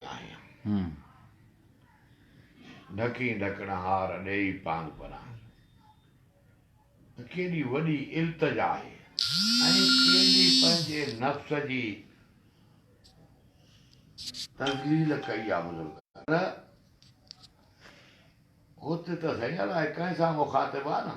آهيان، ڍڪين ڍڪڻ هار ڏيئي پاند پران، ته ڪيڏي وڏي التجا آهي ۽ ڪيڏي پنهنجي نفس جي تذليل ڪئي آ بزرگن! پر هت ته سهي الاء ڪنهن سان مخاطب آ نه؟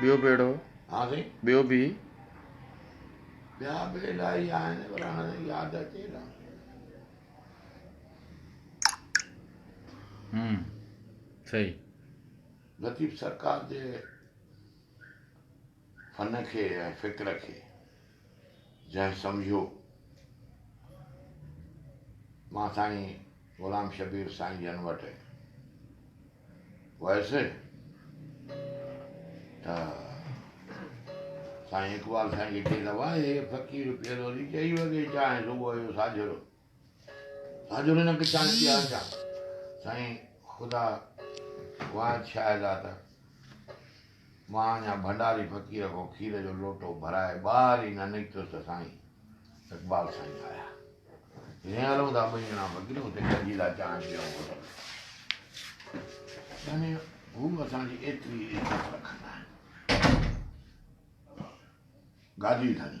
ٻيو ڀيڙو ها سائين ٻيو به. ٻيا به الائي آهن پر هاڻي ياد اچي نه. هم صحيح. لطيف سرڪار جي فن کي ۽ فڪر کي. جنهن سمجهيو مان سائين غلام شبير سائين جن وٽ ويس ته سائين اقبال سائين کي چيس ته واهه فقير پيرو جي چئي وڳي چانهه صبح جو ساجهرو آج انھن انڪ چائي پي آج جا سائين خدا واحد شاهد آ ته مان اڃا ڀنڊاري فقير کان کير جو لوٽو ڀرائي ٻاهر ئي نه نڪتس ته سائين اقبال سائين آيا جنهن هلون ٿا ٻئي ڄڻا فقير اتي گڏجي ٿا چانهه پيئون هوٽل يعني هو اسان جي ايتري عزت رکندا آهن گادي ڌڻي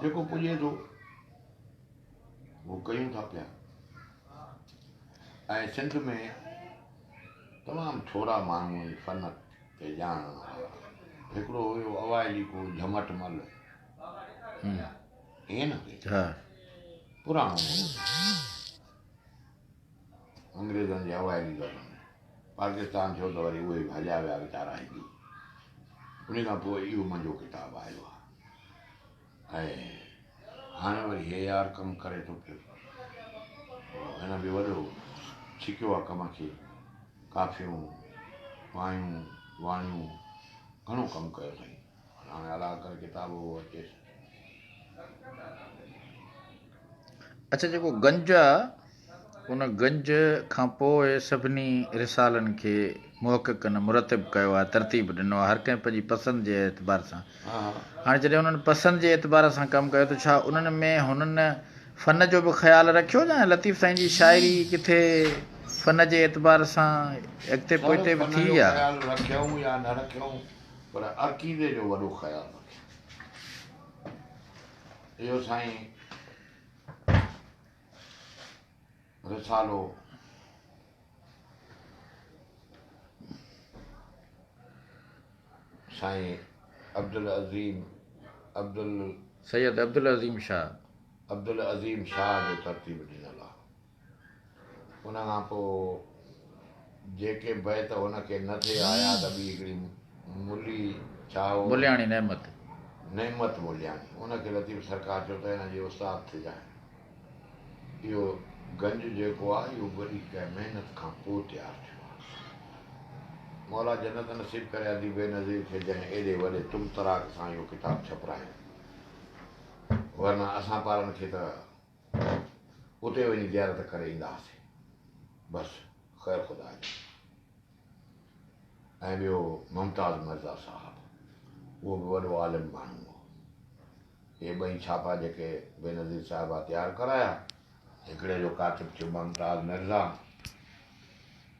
جيڪو پڄي ٿو اهو ڪيون ٿا پيا ۽ سنڌ ۾ تمام ٿورا ماڻهو هن فن کي ڄاڻڻ وارا هڪڙو هيو اوائلي ڪو جھمٽ مل ائين نه هئي ها پراڻو انگريزن جي اوائلي دور ۾ پاڪستان ڇو ته وري اهي ڀڄيا ويا ويچارا هندو انهي کان پوء اهو منهنجو ڪتاب آيو آهي ۽ هاڻي وري هي يار ڪم ڪري ٿو پيو هن به وڏو ڇڪيو آهي ڪم کي ڪافيون وايون واڻيون گهڻو ڪم ڪيو اٿئي اڇا جيڪو گنج آ ان گنج کان پوء سڀني رسالن کي محققن مرتب ڪيو آ ترتيب ڏنو آ هر ڪنهن پنهنجي پسند جي اعتبار سان هاڻي جڏهن انهن پسند جي اعتبار سان ڪم ڪيو ته ڇا انهن ۾ هنن فن جو به خيال رکيو جا لطيف سائين جي شاعري ڪٿي فن جي اعتبار سان اڳتي پوئتي به ٿي آ پر عقيدي جو وڏو خيال رکيو اهو سائين رسالو سائين عبدالعظيم عبدال سيد عبدالعظيم شاهه عبدالعظيم شاهه جو ترتيب ڏنل آهي ان کان پوء جيڪي بيت هن کي نه ٿي آيا ته ٻي هڪڙي ملي ڇاهو، ملياڻي نعمت، نعمت ملياڻي، ان کي لطيف سرڪار چيو ته هن جي استاد ٿجانء. اهو گنج جيڪو آهي اهو وڏي ڪنهن محنت کان پوء تيار ٿيو آهي. مولا جنت نصيب ڪري اديب بينظير کي جنهن ايڏي وڏي طمطراق سان اهو ڪتاب ڇپرايو. ورنه اسان پارن کي ته. اتي وڃي زيارت ڪري ايندا هئاسين بس خير خدا جي ۽ ٻيو ممتاز مرزا صاحب اهو به وڏو عالم ماڻهو هو اهي ٻئي ڇاپا جيڪي بينظير صاحبه تيار ڪرايا هڪڙي جو ڪاتب ٿيو ممتاز مرزا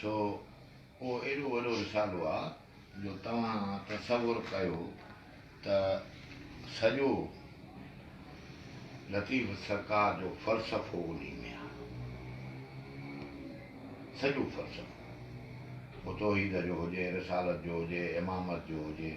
سو اهو ايڏو وڏو رسالو آ جو توهان تصور ڪيو ته سڄو لطيف سرڪار جو فلسفو انهي ۾ آ. سڄو فلسفو پوء توحيد جو هجي، رسالت جو هجي، امامت جو هجي.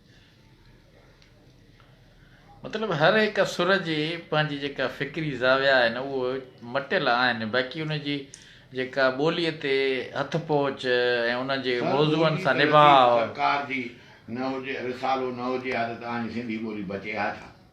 مطلب هر هڪ سر جي پنهنجي جيڪا فڪري زاويا آهن اهو مٽيل آهن باقي ان جي جيڪا ٻوليء تي هٿ پهچ ۽ ان جي سر موضوعن ٻوليء سان تي لطيف نڀاء. سرڪار جي نه هجي رسالو نه هجي ها ته توهان جي سنڌي ٻولي بچي ها ڇا؟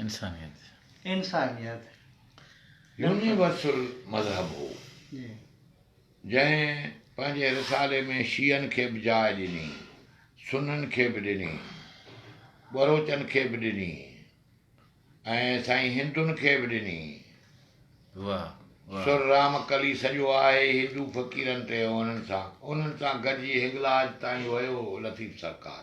انسانيت. انسانيت. يونيورسل مذهب هو. جنهن پنهنجي رسالي ۾ شيعن کي به جاء ڏني، سنن کي به ڏني، ٻروچن کي به ڏني ۽ سائين هندن کي به ڏني. سر رامڪلي سڄو آهي هندو فقيرن تي انهن سان انهن سان گڏجي هنگلاج تائين ويو لطيف سرڪار.